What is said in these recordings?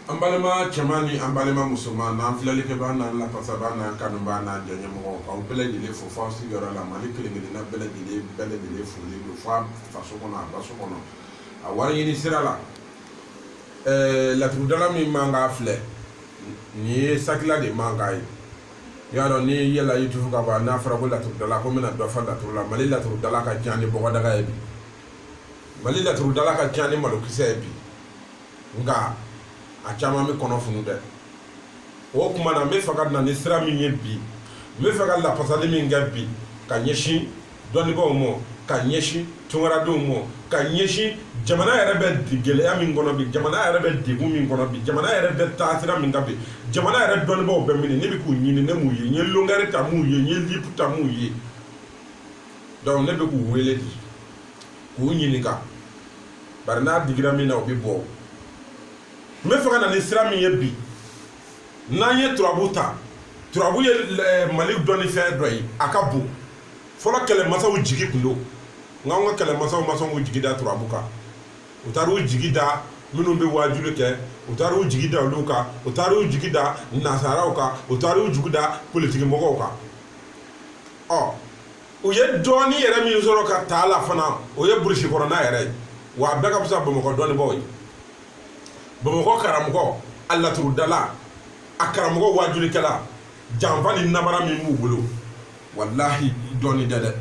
An balima cɛman ni an balima musoman n'an filɛlikɛbaa n'an lafasabaa n'an kanubaa n'an diyaɲɛmɔgɔ k'aw bɛɛ lajɛlen fo f'aw sigiyɔrɔ la Mali kelen-kelenna bɛɛ lajɛlen bɛɛ lajɛlen foli don f'a faso kɔnɔ a baso kɔnɔ a wari ɲini sira la ɛɛ laturudala min mankan filɛ nin ye sakila de mankan ye i y'a dɔn n'i yɛlɛla YouTube kan ban n'a fɔra ko laturudala ko n bɛna dɔ fɔ laturu la mali laturudala ka ca ni bɔgɔdaga ye bi mali laturudala ka ca ni malokisɛ ye bi nka a caman bɛ kɔnɔ funu dɛ o kuma na n bɛ fɛ ka na ni sira min ye bi n bɛ fɛ ka lafasali min kɛ bi ka ɲɛsin dɔnnibaaw ma ka ɲɛsin tunkaradenw ma ka ɲɛsin jamana yɛrɛ bɛ gɛlɛya min kɔnɔ bi jamana yɛrɛ bɛ degun min kɔnɔ bi jamana yɛrɛ bɛ taasira min kan bi jamana yɛrɛ dɔnnibaaw bɛ min ne bɛ k'u ɲini ne m'u ye n ye longɛri ta m'u ye n ye lupu ta m'u ye donc ne bɛ k'u wele de k'u ɲininka bari n'a digira min na o bɛ bɔ n bɛ fɛ ka na ni sira min ye bi n'an ye turabu ta turabu ye mali dɔnnifɛn dɔ ye a ka bon fɔlɔ kɛlɛmasaw jigi tun don nka an ka kɛlɛmasaw ma sɔn k'u jigi da turabu kan u taara u jigi da minnu bɛ waajuli kɛ u taara u jigi da olu kan u taara u jigi da nasaraw kan u taara u jigi da politigimɔgɔw kan ɔ u ye dɔɔni yɛrɛ min sɔrɔ ka taa la fana o ye burusi kɔnɔna yɛrɛ ye wa a bɛɛ ka fisa bamakɔ dɔnnibaaw ye bamakɔ karamɔgɔ a laturudala a karamɔgɔ waajulikɛla janfa ni namara min b'u bolo walahi dɔɔni tɛ dɛ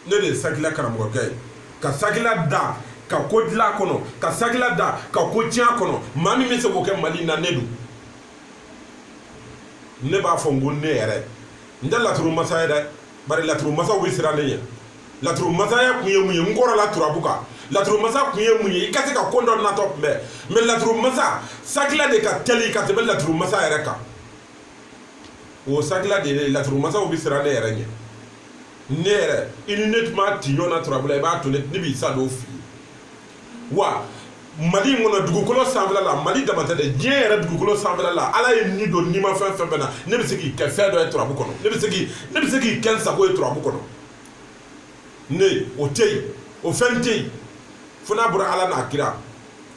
ne de ye sakila karamɔgɔkɛ ye ka sakila da ka ko dilan a kɔnɔ ka sakila da ka ko tiɲɛ a kɔnɔ maa min bɛ se k'o kɛ mali in na ne don ne b'a fɔ n ko ne yɛrɛ n tɛ laturu masa ye dɛ bari laturu masaw bɛ siran ne ɲɛ laturu masaya kun ye mun ye n kɔrɔla turabu kan laturu masa kun ye mun ye i ka se ka ko dɔ natɔ kunbɛn mais laturu masa sakila de ka teli ka tɛmɛ laturu masa yɛrɛ kan o sakila de ye laturu masaw bɛ siran ne yɛrɛ ɲɛ ne yɛrɛ i ni ne tun b'a ti ɲɔgɔn na turabu la i b'a to ne b'i sa don f'i ye wa mali in kɔnɔ dugukolo sanfɛla la mali dama tɛ dɛ diɲɛ yɛrɛ dugukolo sanfɛla la ala ye ni don nimafɛn fɛn fɛn na ne bɛ se k'i kɛ fɛn dɔ ye turabu kɔnɔ ne bɛ se k'i kɛ n sago ye turabu kɔnɔ ne o tɛ yen o fɛn tɛ yen fo n'a bɔra ala n'a kira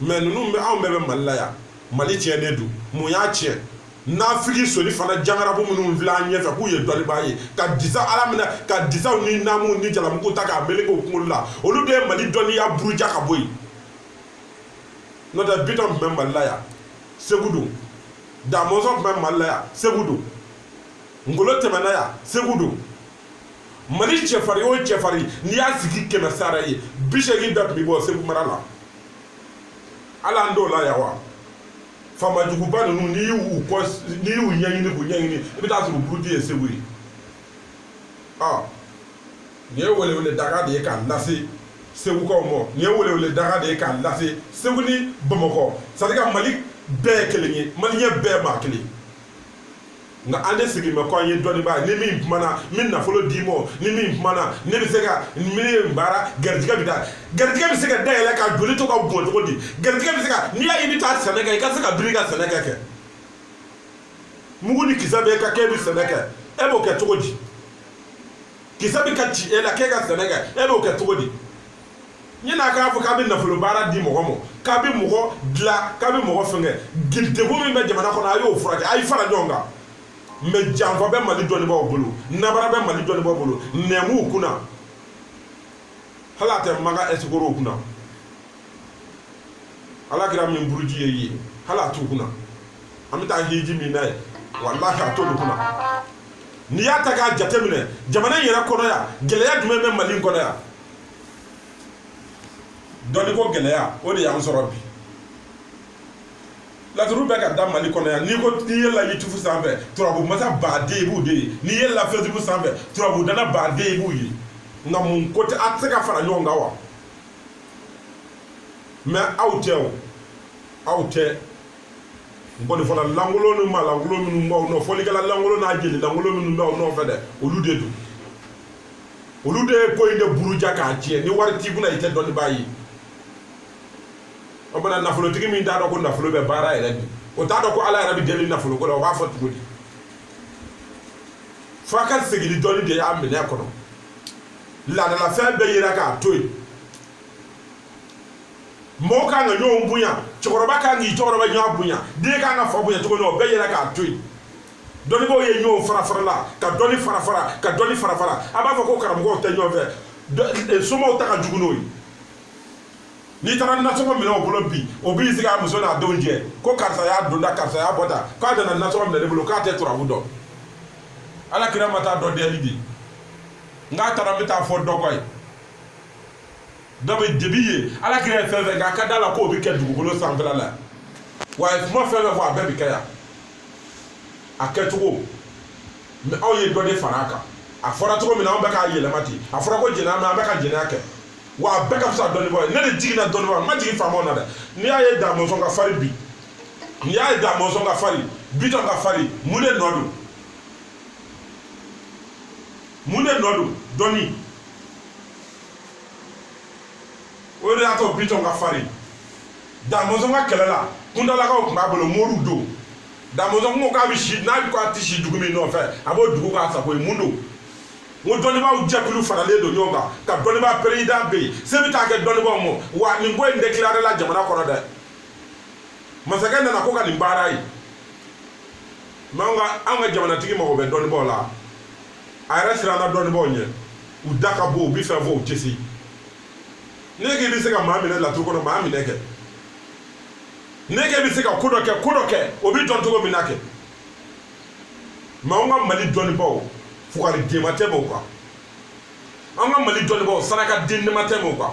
mɛ ninnu bɛ anw bɛɛ bɛ mali la yan mali tiɲɛnen don mun y'a tiɲɛ nafigi soli fana jangarabu minnu filɛ an ɲɛfɛ k'u ye dɔnnibaa ye ka disa ala minɛ ka disaw ni namuw ni jalamugu ta k'a meleke u kunkolo la olu de ye mali dɔnniya buruja ka bɔ yen n'o tɛ bitɔn tun bɛ mali la yan segu don damɔzɔn tun bɛ mali la yan segu don ngolo tɛmɛna yan segu don mali cɛfarin o cɛfarin n'i y'a sigi kɛmɛ sara ye bi seegin bɛɛ tun bɛ bɔ segu mara la ala an dɔw la yan wa faamajuguba ninnu n'i y'u kɔ n'i y'u ɲɛɲini k'u ɲɛɲini i bɛ t'a sɔrɔ buruju ye segu ye ɔ nin ye welewele dakan de ye k'a lase segukaw ma nin ye welewele dakan de ye k'a lase segu ni bamakɔ c'est à dire que mali bɛɛ ye kelen ye maliyɛn bɛɛ maa kelen nka an de sigi bɛ ko an ye dɔnnibaa ni min kumana n bɛ nafolo d'i ma ni min kumana ne bɛ se ka min ye baara garijɛgɛ bɛ da garijɛgɛ bɛ se ka dayɛlɛ ka joli to ka bɔn cogo di garijɛgɛ bɛ se ka n'i y'a ye i bɛ taa sɛnɛ kɛ i ka se ka biri ka sɛnɛ kɛ mugu ni kisɛ bɛ ka kɛ e bɛ sɛnɛ kɛ e b'o kɛ cogo di kisɛ bɛ ka ci e la k'e ka sɛnɛ kɛ e b'o kɛ cogo di yanni a k'a fɔ k'a bɛ nafolo baara di mɔgɔ ma k'a bɛ mɔgɔ dilan k'a bɛ mɔgɔ fɛngɛ degun min bɛ jamana kɔnɔ a y'o furakɛ a y'i fara ɲɔgɔn kan mɛ janfa bɛ mali dɔnnibaaw bolo nanbara bɛ mali dɔnnibaaw bolo namuw kunna hali a tɛ maka ɛsikorow kunna ala kira min buruju ye yen hali a t'u kunna an bɛ taa hiji min na yen walahi a t'olu kunna n'i y'a ta k'a jateminɛ jamana in yɛrɛ kɔnɔ yan gɛlɛya jumɛn bɛ mali kɔnɔ yan dɔnniko gɛlɛya o de y'an sɔrɔ bi laturu bɛ ka da mali kɔnɔ yan n'i ko n'i yɛlɛla yutubu sanfɛ turabu masa baden i b'u de ye n'i yɛlɛla fɛsibuku sanfɛ turabu dana baden i b'u ye nka mun ko tɛ a tɛ se ka fara ɲɔgɔn kan wa mɛ aw tɛ o aw tɛ nkɔnifɔla lankolon ni maa lankolon minnu b'aw nɔ fɔlikɛla lankolon n'a jeli lankolon minnu b'aw nɔfɛ dɛ olu de don olu de ye ko in de buruja k'a tiɲɛ ni wari t'i kunna i tɛ dɔnnibaa ye o bana nafolotigi min t'a dɔn ko nafolo bɛ baara yɛrɛ bi o t'a dɔn ko ala yɛrɛ bɛ deli nafolo ko la o b'a fɔ cogo di fo a ka segin dɔnni de y'a minɛ kɔnɔ laadalafɛn bɛɛ yera k'a to yen mɔgɔw kan ka ɲɔgɔn bonya cɛkɔrɔba kan k'i cɛkɔrɔba ɲɔgɔn bonya den kan ka fa bonya cogo min na o bɛɛ yera k'a to yen dɔnnibaaw ye ɲɔgɔn fara farala ka dɔnni fara fara ka dɔnni fara fara a b'a fɔ ko karamɔgɔw tɛ ɲɔgɔn fɛ somaw ta ka jugu n'o ye n'i taara nasɔngɔ minɛ o bolo bi o b'i sigi a muso n'a denw jɛ ko karisa y'a donda karisa y'a bɔda k'a nana nasɔngɔ minɛ ne bolo k'a tɛ turabu dɔn ala kira ma taa dɔn dɛli di n k'a taara n bɛ taa fɔ dɔ kɔ ye dɔ bɛ debi ye ala kira ye fɛn fɛn k'a ka da la k'o bɛ kɛ dugukolo sanfɛla la wa a ye kuma fɛn fɛn fɔ a bɛɛ bɛ kɛ yan a kɛcogo mɛ aw ye dɔ de fara a kan a fɔra cogo min na an bɛ k'a yɛlɛma ten a fɔra ko jɛnɛya mɛ an bɛ ka jɛnɛya kɛ wa a bɛɛ ka fisa dɔnnibaaw ye ne de jiginna dɔnnibaaw ma jigin faamaw na dɛ n'i y'a ye damɔnzɔn ka fari bi n'i y'a ye damɔnzɔn ka fari bitɔn ka fari mun de nɔ don mun de nɔ don dɔnni o de y'a to bitɔn ka farin damɔnzɔn ka kɛlɛ la kuntalakaw tun b'a bolo moriw don damɔnzɔn kun ko k'a bɛ si n'a ko a tɛ si dugu min nɔfɛ a b'o dugu k'a sago ye mun don n ko dɔnnibaaw jɛkulu faralen don ɲɔgɔn kan ka dɔnnibaa perezidan bɛ yen se bɛ taa kɛ dɔnnibaaw ma wa nin ko in dekilarela jamana kɔnɔ dɛ masakɛ nana ko ka nin baara ye mɛ anw ka anw ka jamanatigi mago bɛ dɔnnibaaw la a yɛrɛ siranna dɔnnibaaw ɲɛ u da ka bon u bɛ fɛn fɔ u tɛ se ne k'i bɛ se ka maa minɛ laturu kɔnɔ maa minɛ kɛ ne k'e bɛ se ka ko dɔ kɛ ko dɔ kɛ o bɛ dɔn cogo min na kɛ mɛ an ka mali dɔnnibaw fugariden ma tɛmɛ u kan an ka mali dɔnnibaw saraka dennin ma tɛmɛ u kan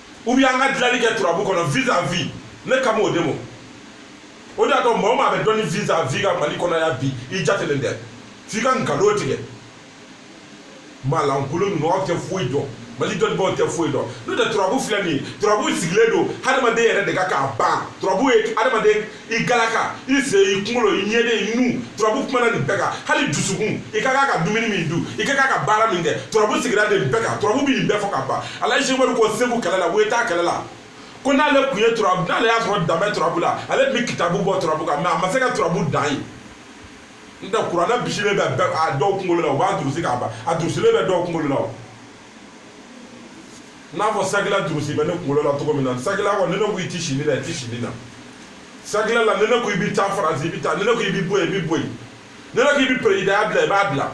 ou bien an ka dilali kɛ turabu kɔnɔ vis à vis ne kan b'o de mɔ o de y'a to maa o maa bɛ dɔnni vis à vis kan mali kɔnɔ yan bi i jatelen tɛ f'i ka nkalon tigɛ maalankolon ninnu tɛ foyi dɔn mali dɔnnibaaw tɛ foyi dɔn n'o tɛ turabu filɛ nin ye turabu sigilen don hadamaden yɛrɛ de kan k'a ban turabu ye hadamaden i galaka i se i kunkolo i ɲɛden i nu turabu kumana nin bɛɛ kan hali dusukun i ka kan ka dumuni min dun i ka kan ka baara min kɛ turabu sigira de nin bɛɛ kan turabu bɛ nin bɛɛ fɔ ka ban alaji seku umaru ko segu kɛlɛ la wɛta kɛlɛ la ko n'ale kun ye turabu n'ale y'a sɔrɔ dan bɛ turabu la ale tun bɛ kitabu bɔ turabu kan mɛ a ma se ka turabu dan ye n tɛ kuranɛ bisilen bɛ a dɔw kunkolo la u b'a durusi k'a ban a durusilen bɛ dɔw kunkolo la o n'a fɔ sagila durusi bɛ ne kunkolo la cogo min na sagila kɔ ni ne ko i ti si nii na i ti si nii na sagila la ni ne ko i bi taa faransi i bi taa ni ne ko i bi bɔ yen i bi bɔ yen ni ne ko i bi perezidanya bila i b'a bila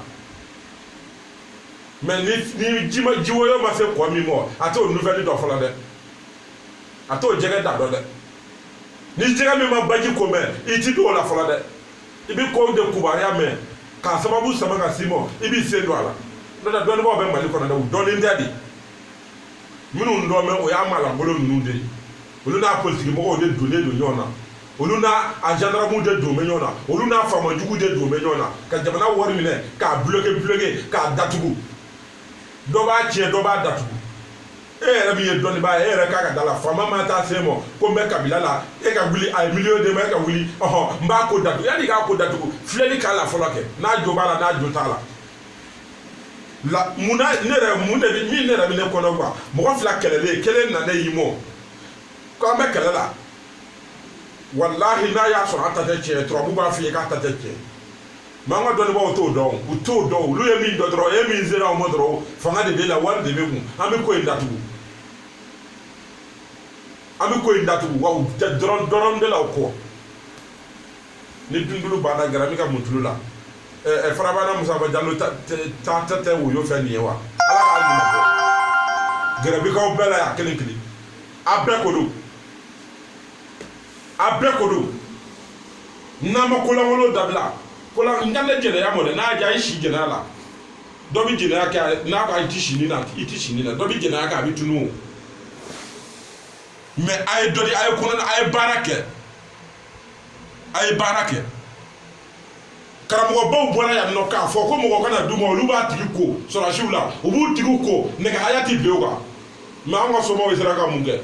mɛ ni ni ji ma ji woyo ma se kɔ min mɔ a t'o nouvelle dɔn fɔlɔ dɛ a t'o jɛgɛ da dɔn dɛ ni jɛgɛ min ma baji ko mɛ i ti don o la fɔlɔ dɛ i bɛ kow de kubaruya mɛn k'a sababu sama ka s'i mɔ i b'i sen don a la n'o tɛ dɔnnibaaw bɛ mali kɔnɔ dɛ u dɔnnen tɛ de minnu dɔn bɛ o y'a maalankolon ninnu de ye olu n'a politikimɔgɔw de donnen don ɲɔgɔn na olu n'a a gendarmew de don bɛ ɲɔgɔn na olu n'a faama jugu de don bɛ ɲɔgɔn na ka jamana wari minɛ k'a bloke bloke k'a datugu dɔ b'a tiɲɛ dɔ b'a datugu e yɛrɛ min ye dɔnnibaa ye e yɛrɛ k'a ka da la faama ma taa s'e ma ko n bɛ kabila la e ka wuli a ye miliyɔn d'e ma e ka wuli ɔhɔn n b'a ko datugu yanni k'a ko datugu filɛli k'a la fɔlɔ kɛ n'a jo b'a la n'a jo t'a la la mun na ne yɛrɛ mun de bi min ne yɛrɛ bi ne kɔnɔgwan mɔgɔ fila kɛlɛlen kelen nana i mɔ ko an bɛ kɛlɛ la walahi n'a y'a sɔrɔ a ta tɛ tiɲɛ turabu b'a f'i ye k'a ta tɛ tiɲɛ mɛ an ka dɔnnibaaw t'o dɔn u t'o dɔn olu ye min dɔn dɔrɔn e min sera u ma dɔrɔn fanga de b'e la wari de b'e kun an bɛ ko in datugu an bɛ ko in datugu wa dɔrɔn dɔrɔn de la o kɔ ni dundulu banna gara min ka mutulu la ɛ farabana musaba jalo ta ta tɛ woyo fɛn nin ye wa ala k'a ɲuman bɔ gɛrɛbikaw bɛɛ la y'a kelen kelen a bɛɛ ko dɔn a bɛɛ ko dɔn n'a ma kolankolon dabila kolan n ka ne jɛnɛya mɔ dɛ n'a diya i si jɛnɛya la dɔ bɛ jɛnɛya kɛ n'a ko i ti sini na i ti sini na dɔ bɛ jɛnɛya kɛ a bɛ tunun o mɛ a ye dɔ di a ye kɔnɔ a ye baara kɛ a ye baara kɛ karamɔgɔbaw bɔra yan nɔ k'a fɔ ko mɔgɔ kana d'u ma olu b'a tigi ko sɔrɔdasiw la u b'u tigiw ko nɛgɛ haya tɛ bin o kan mɛ an ka somaw sera ka mun kɛ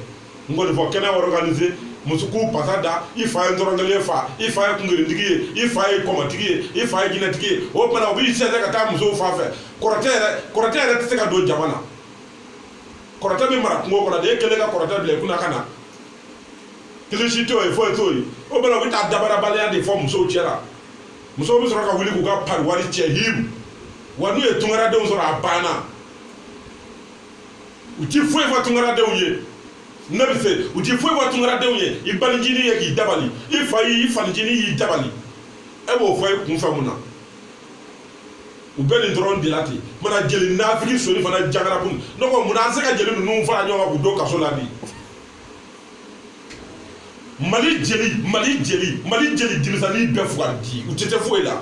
n kɔni fɔ kɛnɛ organise musow k'u pasa da i fa ye dɔrɔnkɛlen ye fa i fa ye kungerintigi ye i fa ye kɔmɔtigi ye i fa ye jinɛtigi ye o tuma na u b'i sɛnsɛn ka taa musow fan fɛ kɔrɔtɛ yɛrɛ kɔrɔtɛ yɛrɛ tɛ se ka don jama na kɔrɔtɛ bɛ mara kungo kɔnɔ de e kɛlen ka kɔrɔtɛ bila i kunna ka na kilisi t'o ye foyi t'o ye o bɛɛ la u bɛ taa dabarabaliya de fɔ musow cɛ la musow bɛ sɔrɔ ka wuli k'u ka pari wari cɛ himu wa n'u ye tunkaradenw sɔrɔ a banna u ti foyi fɔ tunkaradenw ye ne bɛ se u ti foyi fɔ tunkaradenw ye i banincinin ye k'i dabali i fa y'i fanincinin y'i dabali e b'o fɔ i kunfɛ mun na u bɛ nin dɔrɔn de la ten mana jeli nafiki soni fana jagara kun ne ko mun na an se ka jeli ninnu fara ɲɔgɔn kan k'u don kaso la bi mali jeli mali jeli mali jeli denmisɛnnin bɛɛ fugari de u tɛ se foyi la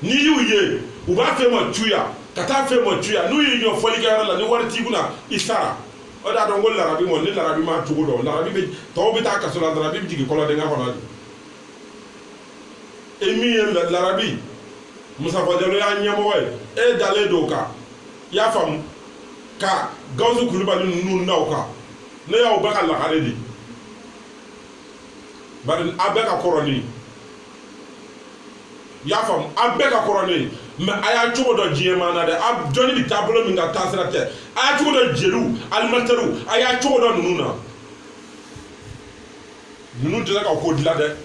n'i y'u ye u b'a fɛ ma tuya ka taa fɛ ma tuya n'u y'i jɔ fɔli ga la ni wari t'i kunna i sara o de y'a dɔn ko larabi ma ni larabi m'a cogo dɔn larabi bɛ tɔw bɛ taa kaso la larabi bɛ jigin kɔlɔndingɛ kɔnɔ de e min ye larabi musafa jalo y'a ɲɛmɔgɔ ye e dalen don o kan i y'a faamu ka gawusu kulubali ninnu da o kan ne y'aw bɛɛ ka lagare di bari a bɛɛ ka kɔrɔ ne ye i y'a faamu a bɛɛ ka kɔrɔ ne ye mais a y'a cogo dɔn diɲɛ maa na dɛ a dɔnni bɛ taabolo min kan taasira tɛ a y'a cogo dɔn jeliw alimentairew a y'a cogo dɔn ninnu na ninnu tɛ se ka ko dilan dɛ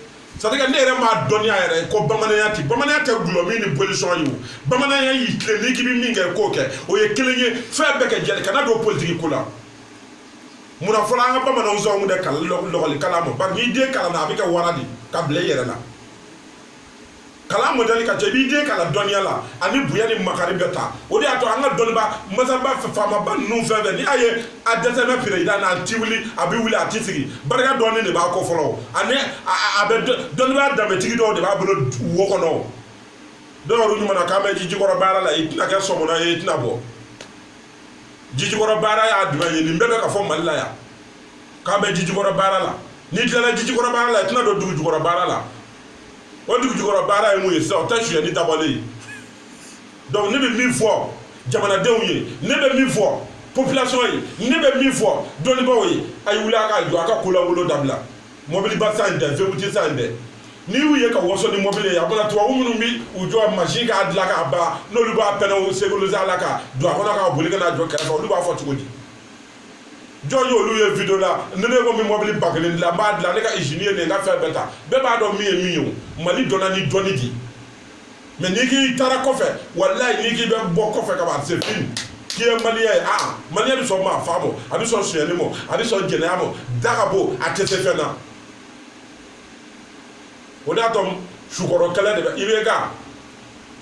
c'est-à-dire que ne yɛrɛ ma dɔnniya yɛrɛ ko bamananya tɛ bamananya tɛ dɔlɔmin ni bolisɔn ye o bamananya y'i tilen n'i k'i bɛ min kɛ k'o kɛ o ye kelen ye fɛn bɛɛ kɛ jeli kana don politiki ko la munna fɔlɔ an ka bamananw tɛ sɔn k'u den kalan lɔkɔli kalan ma bari n'i den kalanna a bɛ kɛ wara di ka bila i yɛrɛ la kalan modɛli ka ca i b'i den kalan dɔnniya la ani bonya ni makari bɛ ta o de y'a to an ka dɔnnibaa masaba faamaba ninnu fɛn fɛn ni a ye a dɛsɛmɛ perezidan n'a ti wuli a bɛ wuli a ti sigi barika dɔɔni de b'a kɔ fɔlɔ ani a bɛ dɔnnibaa danbetigi dɔw de b'a bolo wo kɔnɔ dɔw yɛrɛ ɲuman na k'an bɛ jijikɔrɔ baara la i tɛna kɛ sɔmɔnɔ ye i tɛna bɔ jijikɔrɔ baara ye jumɛn ye nin bɛɛ bɛ ka fɔ mali la yan k'an bɛ jijikɔrɔ baara la n'i tilala jijikɔrɔ baara la i tɛna don dugujukɔrɔ baara la o dugujukɔrɔ baara ye mun ye sisan o tɛ sonyɛni dabali ye donc ne bɛ min fɔ jamanadenw ye ne bɛ min fɔ population ye ne bɛ min fɔ dɔnnibaaw ye a ye wuli a ka jɔ a ka kunnawolo dabila mɔbili ba sanni tɛ vewuti sanni tɛ n'i y'u ye ka wɔsɔ ni mɔbili ye a bɔra tubabu minnu bɛ u jɔ machine k'a dilan k'a ban n'olu b'a pɛnɛw sécuriser a la ka don a kɔnɔ k'a boli ka n'a jɔ kɛrɛfɛ olu b'a fɔ cogo di jɔn y'olu ye video la ni ne ko n bɛ mɔbili ba kelen dilan n b'a dilan ne ka izini ye nin ye n ka fɛn bɛɛ ta bɛɛ b'a dɔn min ye min ye o mali dɔnna ni dɔnni di mais n'i k'i taara kɔfɛ walayi n'i k'i bɛ bɔ kɔfɛ ka ban c'est fini k'i ye maliyɛn ye aa maliyɛn bɛ sɔn maa faa mɔ a bɛ sɔn sonyɛli mɔ a bɛ sɔn jɛnɛya mɔ da ka bon a tɛ se fɛn na o de y'a to sukɔrɔkɛlɛ de bɛ i bɛ ka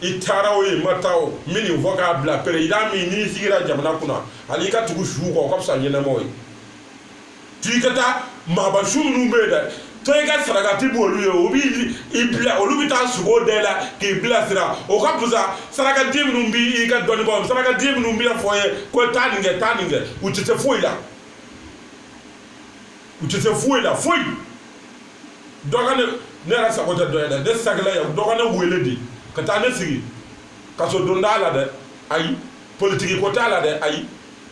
i taara wo i ma taa wo n bɛ nin fɔ k'a bila perezidan min n'i sigira jamana kunna hali i ka tugu su kɔ o ka fisa ɲɛnamaw ye to i ka taa maaba su minnu bɛ yen dɛ to i ka sarakati b'olu ye o b'i i bila olu bɛ taa sugo da i la k'i bilasira o ka fisa sarakati minnu b'i i ka dɔnnibaaw sarakati minnu bɛ fɔ i ye ko taa nin kɛ taa nin kɛ u tɛ se foyi la u tɛ se foyi la foyi dɔ ka ne ne yɛrɛ sago tɛ dɔ ye dɛ ne sago la yan dɔ ka ne wele de ka taa ne sigi kaso don t'a la dɛ ayi politigi ko t'a la dɛ ayi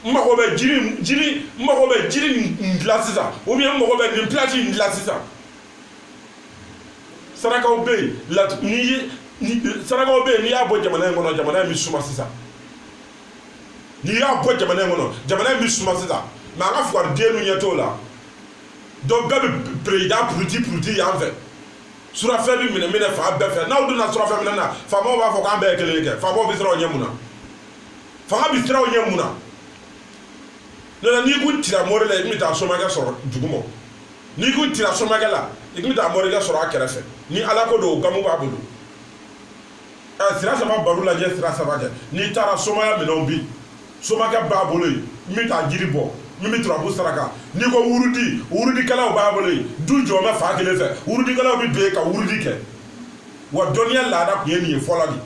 n mago bɛ jiri jiri n mago bɛ jiri nin de la sisan ou bien n mago bɛ nin place nin de la sisan sarakaw bɛ yen latu n'i ye sarakaw bɛ yen n'i y'a bɔ jamana in kɔnɔ jamana in bɛ suma sisan n'i y'a bɔ jamana in kɔnɔ jamana in bɛ suma sisan mɛ an ka fugariden ninnu ɲɛ t'o la dɔn bɛɛ bɛ perezida puruti puruti yan fɛ surafɛn bɛ minɛ minɛ fan bɛɛ fɛ n'aw donna surafɛn minɛ na faamaw b'a fɔ k'an bɛɛ ye kelen kɛ faamaw bɛ siran o ɲɛ mun na fanga bɛ siran o ɲɛ mun na n'o tɛ n'i kun tira mori la i tun bɛ taa somakɛ sɔrɔ duguma n'i kun tira somakɛ la i tun bɛ taa morikɛ sɔrɔ a kɛrɛfɛ ni ala ko don o gamu b'a bolo ɛ sira saba baro lajɛ sira saba jɛ n'i taara somaya minɛnw bi somakɛ b'a bolo yen min bɛ taa jiri bɔ min bɛ turabu saraka n'i ko wurudi wurudikɛlaw b'a bolo yen du jɔ bɛ fan kelen fɛ wurudikɛlaw bɛ don yen ka wurudi kɛ wa dɔnniya laada tun ye nin ye fɔlɔ de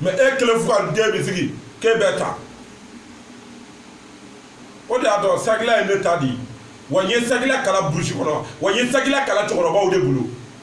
mɛ e kelen fugariden bɛ sigi k'e bɛ ta o de y'a dɔn sagila ye ne ta de ye wa n ye sagila kalan burusi kɔnɔ wa n ye sagila kalan cɛkɔrɔbaw de bolo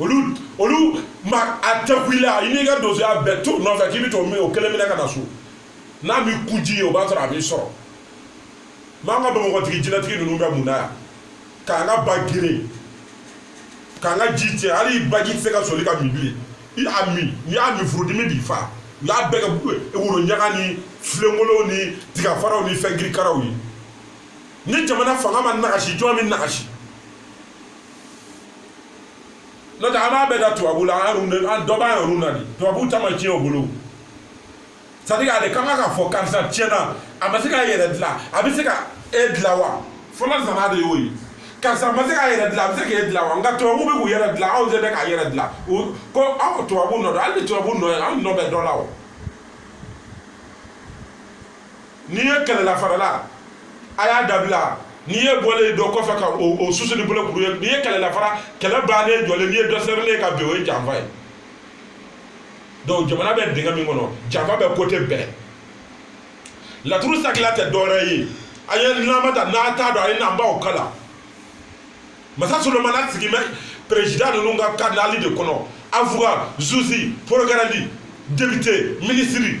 olu olu ma atake i la i n'i ka donsoya bɛɛ to nɔfɛ k'i bɛ t'o min o kelen minɛ ka na so n'a b'i kuji ye o b'a sɔrɔ a b'i sɔrɔ n'an ka bakotigi jinɛtigi ninnu bɛ mun na yan k'an ka ba geren k'an ka ji tiɲɛ hali baji tɛ se ka soli ka min bilen i y'a min n'i y'a min furudimi b'i fa n'a bɛɛ kɛ woro ɲaga ni filenkolow ni tigafaraw ni fɛn kirikaraw ye ni jamana fanga ma nagasi jɔn bɛ nagasi n'o tɛ an b'a bɛɛ da tubabu la an an dɔ b'an yɛrɛw na de tubabu ta ma tiɲɛ o bolo c'est à dire ale ka kan ka fɔ karisa tiɲɛna a ma se k'a yɛrɛ dilan a bɛ se ka e dilan wa fɔlɔ zana de y'o ye karisa ma se k'a yɛrɛ dilan a bɛ se k'e dilan wa nka tubabu bɛ k'u yɛrɛ dilan anw tɛ se k'an yɛrɛ dilan ko aw tubabu nɔ don hali ni tubabu nɔ ye anw nɔ bɛ dɔ la o n'i ye kɛlɛla farala a y'a dabila ni e bɔlen dɔ kɔfɛ ka o susu ni bolokuru ye n'i ye kɛlɛla fara kɛlɛ bannen jɔlen n'i ye dɔ serilen ka bin o ye janfa ye donc jamana bɛ dingɛ min kɔnɔ janfa bɛ kote bɛɛ laturu sakila tɛ dɔwɛrɛ ye a ye nama ta n'a t'a dɔn a ye na n b'aw kalan masa solomana sigi bɛ perezida ninnu ka kanali de kɔnɔ awoka zuzi porokirɛri depite minisiri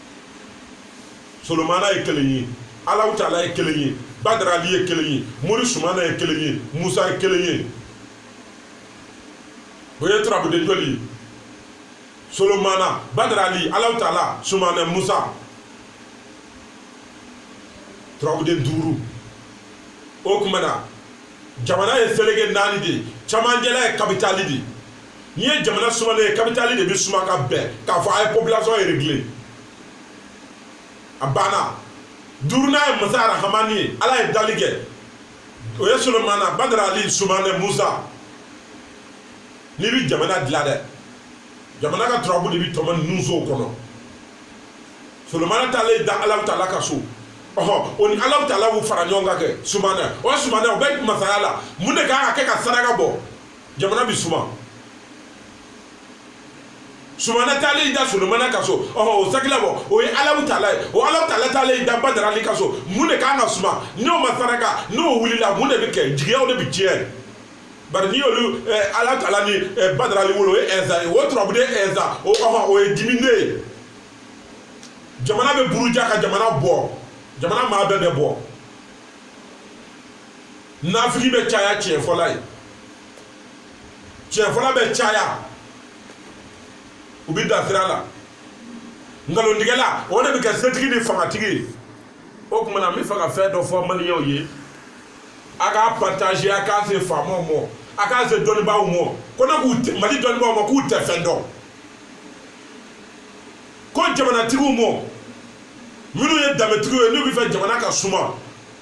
solomana ye kelen ye alahu taala ye kelen ye badarali ye kelen ye mori sumana ye kelen ye musa ye kelen ye o ye turabuden joli ye solomana badarali alahu taala sumana musa turabuden duuru o kuma na jamana ye seleke naani de ye camancɛla ye kapitali de ye n'i ye jamana sumalen ye kapitali de bɛ suma ka bɛn k'a fɔ a ye population réglé a banna duurunan ye masa arahamani ye ala ye dali kɛ o ye solomana badara ali sumana musa n'i bɛ jamana dilan dɛ jamana ka turabu de bɛ tɔmɔ ninnu sow kɔnɔ solomana taalen da ala taala ka so ɔhɔ o ni ala taala y'u fara ɲɔgɔn kan kɛ sumana o sumana o bɛ masaya la mun de kan ka kɛ ka saraka bɔ jamana bɛ suma sumana taalen i da solomana ka so ɔhɔ o sakila bɔ o ye ala taala ye o ala taala taalen i da badarali ka so mun de kan ka suma n'o ma saraka n'o wulila mun de bɛ kɛ jigiyaw de bɛ tiɲɛ bari n'i y'olu eh, ala taala ni eh, badarali wolo o ye ɛnsa ye o turabuden ɛnsa o ɔhɔ o ye dimi de ye jamana bɛ buruja ka jamana bɔ jamana maa bɛɛ bɛ bɔ nafigi bɛ caya tiɲɛ fɔla ye tiɲɛ fɔla bɛ caya u bɛ dan sira la nkalontigɛla o de bɛ kɛ setigi ni fangatigi ye o kuma na n bɛ fɛ ka fɛn dɔ fɔ maliyɛnw ye a k'a partage a k'a se faamaw ma a k'a se dɔnnibaaw ma ko ne ko mali dɔnnibaaw ma k'u tɛ fɛn dɔn ko jamanatigiw ma minnu ye danbetigiw ye n'u bɛ fɛ jamana ka suma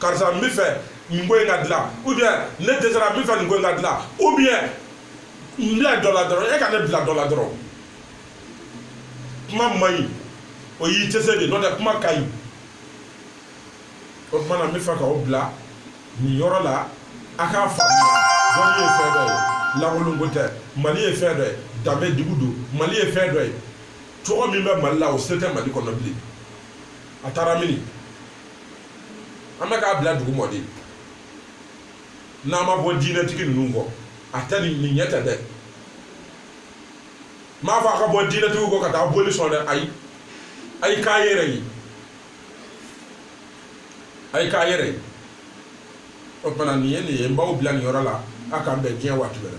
karisa n bɛ fɛ nin ko in ka dilan ou bien ne dɛsɛra n bɛ fɛ nin ko in ka dilan ou bien n bila dɔ la dɔrɔn e ka ne bila dɔ la dɔrɔn kuma man ɲi o y'i dɛsɛ de n'o tɛ kuma ka ɲi o tuma na n bɛ fɛ k'aw bila nin yɔrɔ la a k'a faamuya dɔnni ye fɛn dɔ ye lankolon ko tɛ mali ye fɛn dɔ ye danbe dugu don mali ye fɛn dɔ ye cogo min bɛ mali la o se tɛ mali kɔnɔ bilen a taara mini an bɛ k'a bila dugu mɔ de n'an ma bɔ diinɛtigi ninnu kɔ a tɛ nin nin ɲɛ tɛ dɛ n m'a fɔ a ka bɔ diinɛtigiw kɔ ka taa boli sɔn dɛ ayi a ye k'a yɛrɛ ye a ye k'a yɛrɛ ye o tuma na nin ye nin ye n b'aw bila nin yɔrɔ la a k'an bɛn diɲɛ waati wɛrɛ